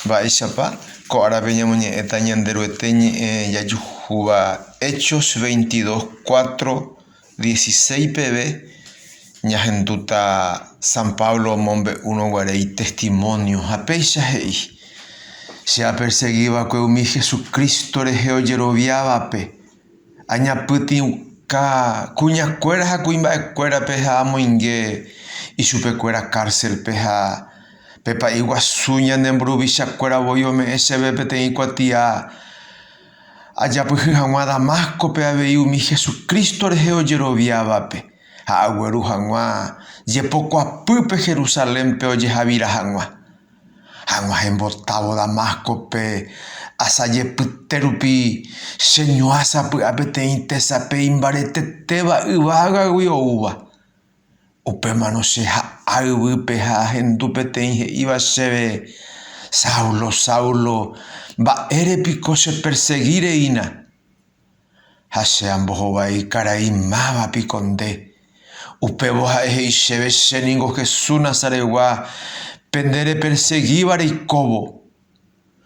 Mba'éichapa ko árape ñamoñe'ẽta Ñanderuete ñe'ẽ jajuhúva Hechos veintidós cuatro, dieciséis peve ñahendúta San Pablo omombe'úrõ guare itestimónio ha péicha he'i, Che apersegi va'ekue umi Jesucristo rehe ojeroviávape, añapytĩuka kuñakuéra ha kuimba'ekuérape ha amoinge ichupekuéra kárselpe ha pe pa'i guasu ñane mburuvichakuéra voi ome'ẽ chéve peteĩ kuatia ajapyhy hag̃ua Damáscope avei umi Jesucristo rehe ojeroviávape ha agueru hag̃ua jepokuapýpe Jerusalénpe ojeha'vira hag̃ua. Hag̃ua hembotávo Damáscope, asa jepyte rupi, cheñuã sapy'a peteĩ tesape imbaretetéva yvágagui oúva. Upémarõ che ha'a yvýpe ha ahendu peteĩ he'íva chéve, Saulo, Saulo, mba'ére piko chepersegi reína? Ha che ambohovái karai máva piko nde. Upévo ha'e he'i chéve che ningo Jesús Nazaretgua pende repersegíva reikóvo.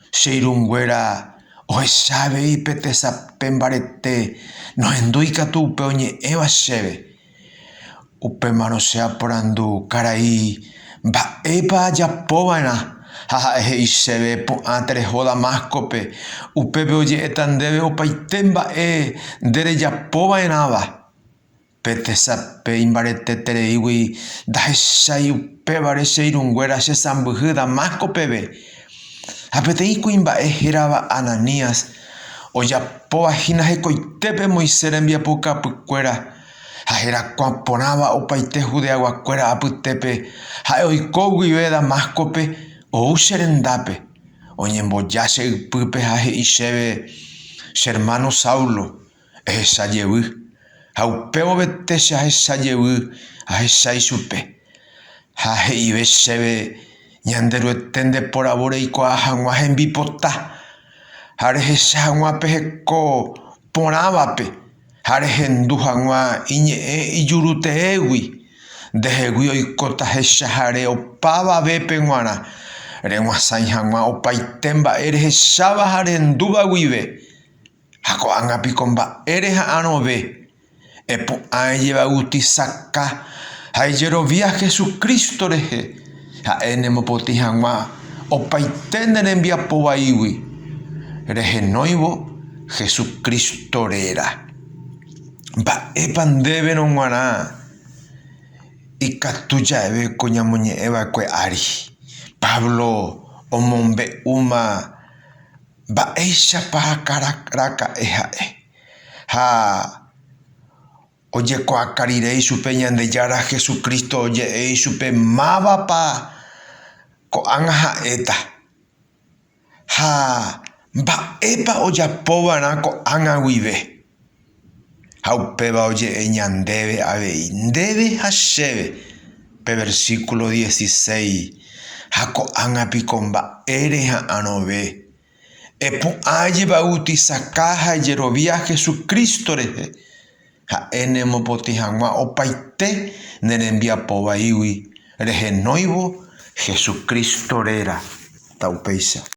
Che irũnguéra ohecha avei pe tesape mbarete nohendúi katu upe oñe'ẽva chéve. Upémarõ che aporandu karai mba'épa ajapova'erã, ha ha'e he'i chéve, 'Pu'ã tereho Damáscope'. Upépe oje'éta ndéve opaite mba'e nde rejapova'erãva. Pe tesape imbaretetereígui ndahechái upévare che irũnguéra chesãmbyhy Damásco peve. Ha peteĩ kuimba'e hérava Ananías ojapóva hína hekoitépe Moisés rembiapo kapykuéra ha herakuã porãva opaite Judeaguakuéra apytépe, ha'e oiko guive Damáscope, ou che rendápe, oñemboja che ypýpe ha he'i chéve, Che ermáno Saulo, ehecha jevy, ha upévovete che ahecha jevy ahecha ichupe. Ha he'ive chéve, Ñanderuete nde poravo reikuaa hag̃ua hembipota, ha rehecha hag̃ua pe heko porãvape, ha rehendu hag̃ua iñe'ẽ ijuruteégui, ndehegui oikóta hechahare opavavépe g̃uarã, reg̃uasãi hag̃ua opaite mba'e rehecháva ha rehendúva guive. Ha ko'ág̃a piko mba'e reha'arõve, epu'ãe jevautisaca ha ejerovia Hesu Crísto rehe, ha'e nemopotĩ hag̃ua opaite ne rembiapo vaígui, rehenóivo Hesu Crísto réra. Mba'épa ndéverõ g̃uarã ikatu jave ko ñamoñe'ẽ va'ekue ári? Pablo omombe'úma. Mba'éichapa raka'e ha'e. Ha ojekuaaka rire ichupe Ñandejára Jesucristo oje'e ichupe mávapa ko'ág̃a ha'éta, ha mba'épa ojapova'erã ko'ág̃a guive. Ha upéva oje'e ñandéve avei, ndéve ha chéve, pe versíkulo diesisei, Ha ko'ág̃a piko mba'ére ha'arõve? Epu'ã ajevautisaha ha ajerovia Jesucristo rehe, ha'e nemopotĩ hag̃ua opaite ne rembiapo vaígui rehenóivo Jesucristo réra, ta upéicha.